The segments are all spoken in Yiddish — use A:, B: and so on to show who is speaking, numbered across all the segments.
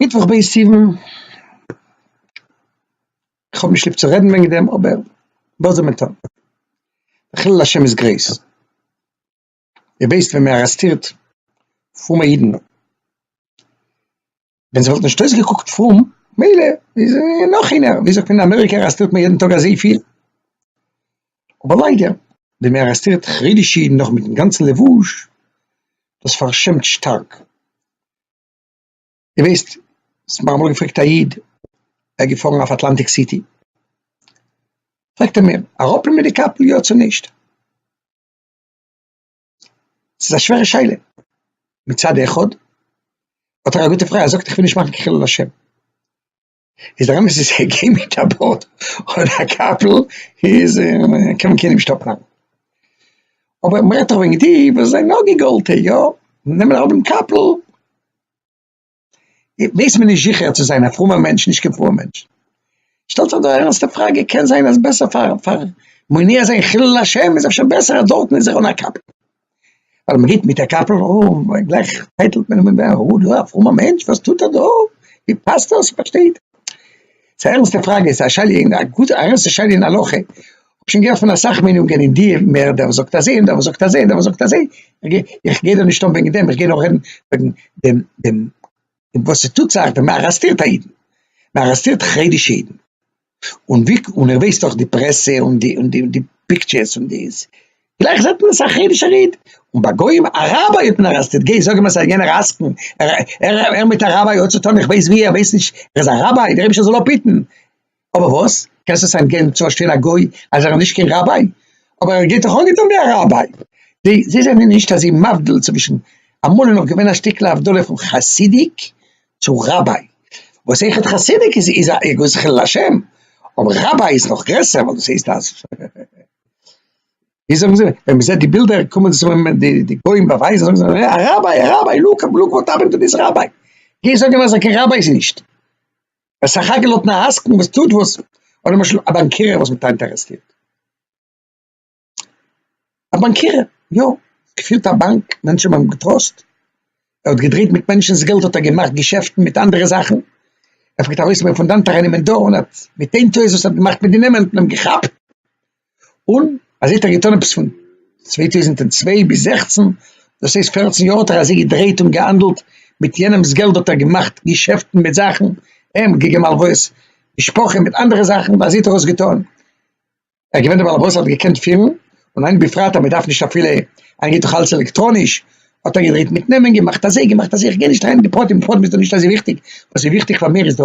A: מיטוואך ב' סיוון, כ'האב נישט ליב צו רעדן וועגן דעם אבער וואס זאל מען טון, חילול השם איז גרויס, איר ווייסט ווען מען ארעסטירט פרומע אידן, ווען זיי וואלטן נישט אויסגעקוקט פרום מילא, נאך איינער, ווי זאגט מען אין אמעריקע ארעסטירט מען יעדן טאג אזויפיל, אבער ליידער ווען מען ארעסטירט חרדישע אידן נאך מיטן גאנצן לבוש, דאס פארשעמט שטארק. דו ווייסט וואס מיר האבן אמאל געפרעגט א איד, ער איז געפארן אויף אטלאנטיק סיטי, פרעגט ער מיר, אראפ מיט די קאפל יא צו נישט? ס'איז א שווערע שאלה, מצד אחד האט ער א גוטע פרייז, ער זאגט איך וויל נישט מאכן חילול השם, איז דער אמת איז כ'גיי מיט א בארד און א קאפל איז קען מען קיינעם נישט אפנארן, אבער מ'רעדט דאך וועגן די וואס זענען יא געגאלטע יא נעמען האבן קאפל, ווייס מען נישט זיכער צו זיין א פרומער מענטש נישט קיין פרומער מענטש, שטעלט זיך דא א ערנסטע פראגע, קען זיין אז בעסער פאר פאר מונע זיין חילול השם איז אפשר בעסער אז דארטן איז ער אן א קאפל. ווייל מען גיט מיט א קאפל און גלייך טייטלט מען אים אויף, אוי דו א פרומער מענטש וואס טוט ער דא, ווי פאסט דאס, פארשטייט ער? ס'איז א ערנסטע פראגע, ס'איז א שאלה אין א גוטע א ערנסטע שאלה אין הלכה, כ'האב שוין געהערט פון אסאך מיינונגען אין די מהר א, דער וואס זאגט אזוי און דער וואס זאגט אזוי און דער וואס זאגט אזוי, איך גיי דא נישט אן וועגן דעם, איך גיי נאר רעדן וועגן דעם דעם וואס ס'טוט זיך ווען מען ארעסטירט א אידן, מען ארעסטירט חרדישע אידן, און ווי און ער ווייסט דאך די פרעסע און די און די און די פיקטשערס און דאס גלייך זעט מען אסאך חרדישער איד און ביי גוים א ראביי האט מען ארעסטעד גיי זאג אים אז ס'איז א יענער עסקן ער ער ער מיט א ראביי האט צוטון איך ווייס ווי ער ווייסט נישט ער איז א ראביי דער רבשע זאל אפהיטן אבער וואס קענסט עס אים געבן צו פארשטיין א גוי אז ער איז נישט קיין ראביי אבער ער גייט דאך אנגעטון ווי א ראביי זיי זיי זענען נישט אזוי מבדיל צווישן אמאל איז נאך געווען א שטיקל הבדלה פון חסידיק צו ראביי וואס איחוד חסידיק איז איז א גאר חילול השם, אבער ראביי איז נאך גרעסער ווייל דאס הייסט אז ווי זאגן זיי ווען מ'זעט די בילדער קומען זיך אן די גוים באווייזן זאגן זיי א ראביי א ראביי לוק לוק וואט האפענד טו דיס ראביי, גיי זאג אים אז קיין ראביי איז ער נישט, ער איז סך הכל האט אן עסקן וואס טוט וואס, אדער למשל א באנקיר וואס האט אינטערעסטירט. א באנקירער, יא, געפירט א באנק, מענטשן האבן אים געטראסט, ער האט געדרעיט מיט מענטשן'ס געלט האט ער געמאכט געשעפטן מיט אנדערע זאכן, ער פלעגט ארויסנעמען פון דאנט אריין אין מען דא און האט מיט איין טעות וואס ער האט געמאכט מיט די נעמען האט מען אים געכאפט, און אזוי האט ער געטון עפעס פון צוויי טויזנט און צוויי ביז זעכצן, דאס הייסט פערצן יאר האט ער אזוי געדרעיט און געהאנדלט מיט יענעמ'ס געלט האט ער געמאכט געשעפטן מיט זאכן, אים געגעבן הלוואות, משפחה מיט אנדערע זאכן, אזוי האט ער עס געטון. ער איז געווען דער באלעבאס האט געקענט פירן, און היינט בפרט אז מען דארף נישט אפילו, היינט גייט דאך אלעס עלעקטראניש, האט ער געדרייט מיט נעמען, געמאכט אזוי, געמאכט אזוי, איך גיי נישט אריין אין די פרטים, די פרטים איז דא נישט אזוי וויכטיג, וואס איז וויכטיג פאר מיר איז דא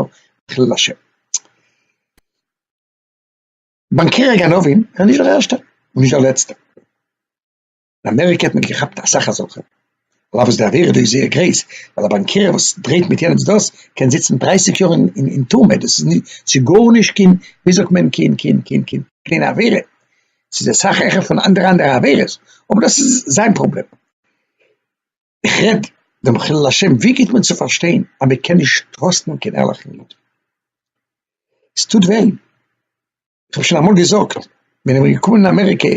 A: חילול השם. באנקערער גנבים, ער איז נישט דער ערשטער, און נישט דער לעצטער. אין אמעריקע האט מען געכאפט אסאך אזעלכע, על אף וואס די עבירה דא איז זייער גרעיס, ווייל א באנקירער וואס דרעיט מיט יענעמס דאס קען זיצן דרײַסיק יאר אין טורמע, דאס איז נישט ס'איז גארנישט קיין ווי זאגט מען קיין קיין קיין קיין קליינע עבירה, ס'איז אסאך העכער פון אנדערע אנדערע עבירות, אבער דאס איז זיין פראבלעם. איך רעד דעם חילול השם, ווי גיבט מען צו פארשטיין אז מען קען נישט טראסטן קיין ערליכן איד? ס'טוט וויי. כ'האב שוין אמאל געזאגט, ווען איך בין געקומען אין אמעריקע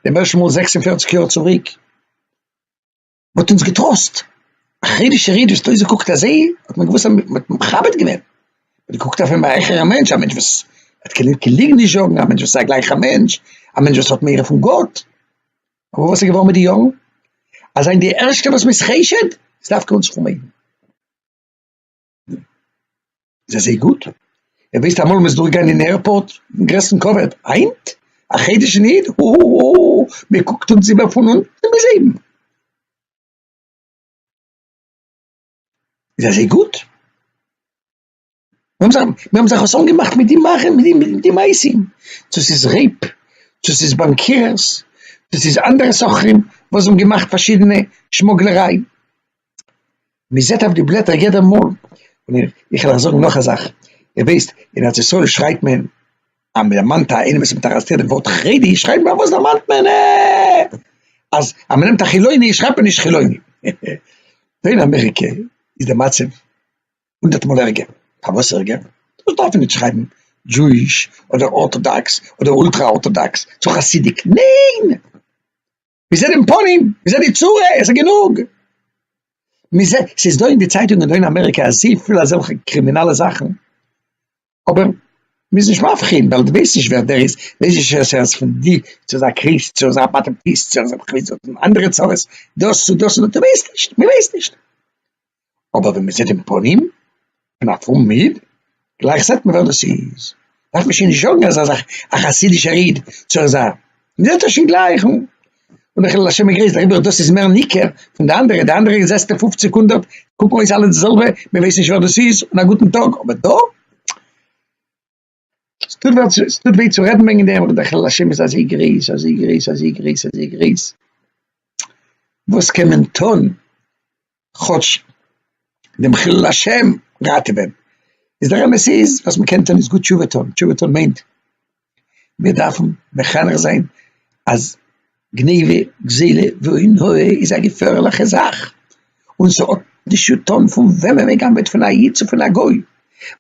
A: דעם ערשטן מאל זעקס און פֿערציק יאר צוריק, מ'האט אונז געטראסט, א חרדישער איד וואס האט אויסגעקוקט אזוי, האט מען געוואוסט אז מ'האט מכבד געווען, מ'האט געקוקט אויף אים א העכערע מענטש, א מענטש וואס וועט קיין קיין ליגן נישט זאגן, א מענטש וואס איז א גלייכער מענטש, א מענטש וואס האט מורא פון גאט. אבער וואס איז געווארן מיט די יארן? אז זיין די ערשטע וואס מ'איז חושד, איז דווקא אונז פרומע אידן. זיי זיי גוט ער ווייסט אמאל מ'איז דורך גיין אין עירפארט גרעסטן כבוד היינט א חדש אין איד אאאאאא מ'קוקט אונז איבער פון אונטן ביז אויבן זיי זיי גוט מיר האבן זיך חתן געמאכט מיט די מאכער מיט די מעשים צו ס'איז רעיפ צו ס'איז באנקירערס צו ס'איז אנדערע סוחרים וואס האבן געמאכט פארשידענע שמוגלעריי. מען זעט אויף די בלעטער יעדע מאל, און איך וועל אייך זאגן נאך א זאך, איר וויסט אין ארץ ישראל שרייט מען אז מען דערמאנט א איינעם וואס האט ארעסטירט דעם ווארט חרדי שרייט מען פארוואס דערמאנט מען אים, אז מען נעמט א חילוני שרייבט מען נישט חילוני, דא אין אמעריקע איז די מצב הונדערט מאל ערגער, פארוואס ערגער? דארט דארף מען נישט שרייבן דזשואיש אדער ארטאדאקס אדער אולטרא ארטאדאקס צו חסידיק, ניין! מיר זענען פנים, מיר זענען צורה, עס איז גענוג. מיר זענען, עס איז דא אין די צייטונגען דא אין אמעריקע אזויפיל אזעלכע קרימינאלע זאכן, אבער מען איז נישט מבחין, ווייל דו ווייסט נישט ווער דער איז, ווייסט נישט צו עס איז פון די, צו עס איז א קריסט, צו עס איז א באטעמטיסט, צו עס איז א, אנדערע צרות, דאס צו דאס, דו ווייסט נישט, מען ווייסט נישט. אבער ווען מען זעט אים פנים פון א פרומען איד, גלייך זעט מען ווער דאס איז, דארף מען שוין נישט זאגן אז ער איז א חסידישער איד צו ער זיין, מען זעט עס שוין גלייך אן, און די חילול השם איז גרויס, דעריבער דאס איז מער ניכר פון די אנדערע, די אנדערע זעסטו פופציג הונדערט קוקן אויס אלע די זעלבע, מען ווייסט נישט ווער דאס איז, און א גוטן טאג, אבער דא. ס'טוט וויי צו, ס'טוט וויי צו רעדן וועגן דעם, אבער דער חילול השם איז אזוי גרויס, אזוי גרויס, אזוי גרויס, אזוי גרויס, וואס קען מען טון כאטש דעם חילול השם ראטעווען? איז דער אמת איז, וואס מען קען טון איז גוט תשובה טון, תשובה טון מיינט, מיר דארפן מחנך זיין אז גניבה, גזילה ועון הוה איז א געפערליכע זאך, און ס'האט נישט צוטון פון וועמען מ'גנב'עט פון א איד צו פון א גוי,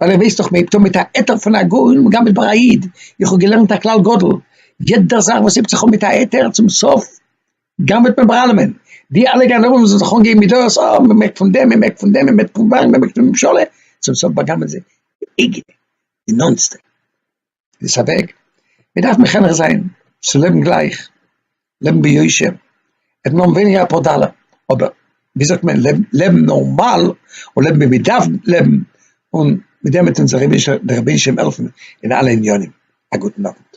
A: ווייל ער ווייסט דאך מ'הייבט אן מיט א היתר פון א גוי און מ'גנב'עט ביי א איד, איך האב געלערנט א כלל גדול, יעדע זאך וואס הייבט זיך אן מיט א היתר צום סוף גנב'עט מען ביי אלעמען, די אלע גנבים וואס זאלן זיך אנגעבן מיט דעות, אה מ'מעקט פון דעם מ'מעקט פון דעם מ'מעקט פון ווארעם מ'מעקט פון ממשלה, צום סוף באגנב'ען זיי די אייגענע די נאנטסטע. דאס איז א וועג, מען דארף מחנך זיין צו לעבן גלייך, לעבן ביושר, עס נאר ווייניגער אפאר דאלער, אבער ווי זאגט מען, לעבן נארמאל און לעבן ווי מען דארף לעבן, און מיט דעם וועט אונז דער רבי'ן שליטא העלפן אין אלע עניינים, א גוטן אוונט.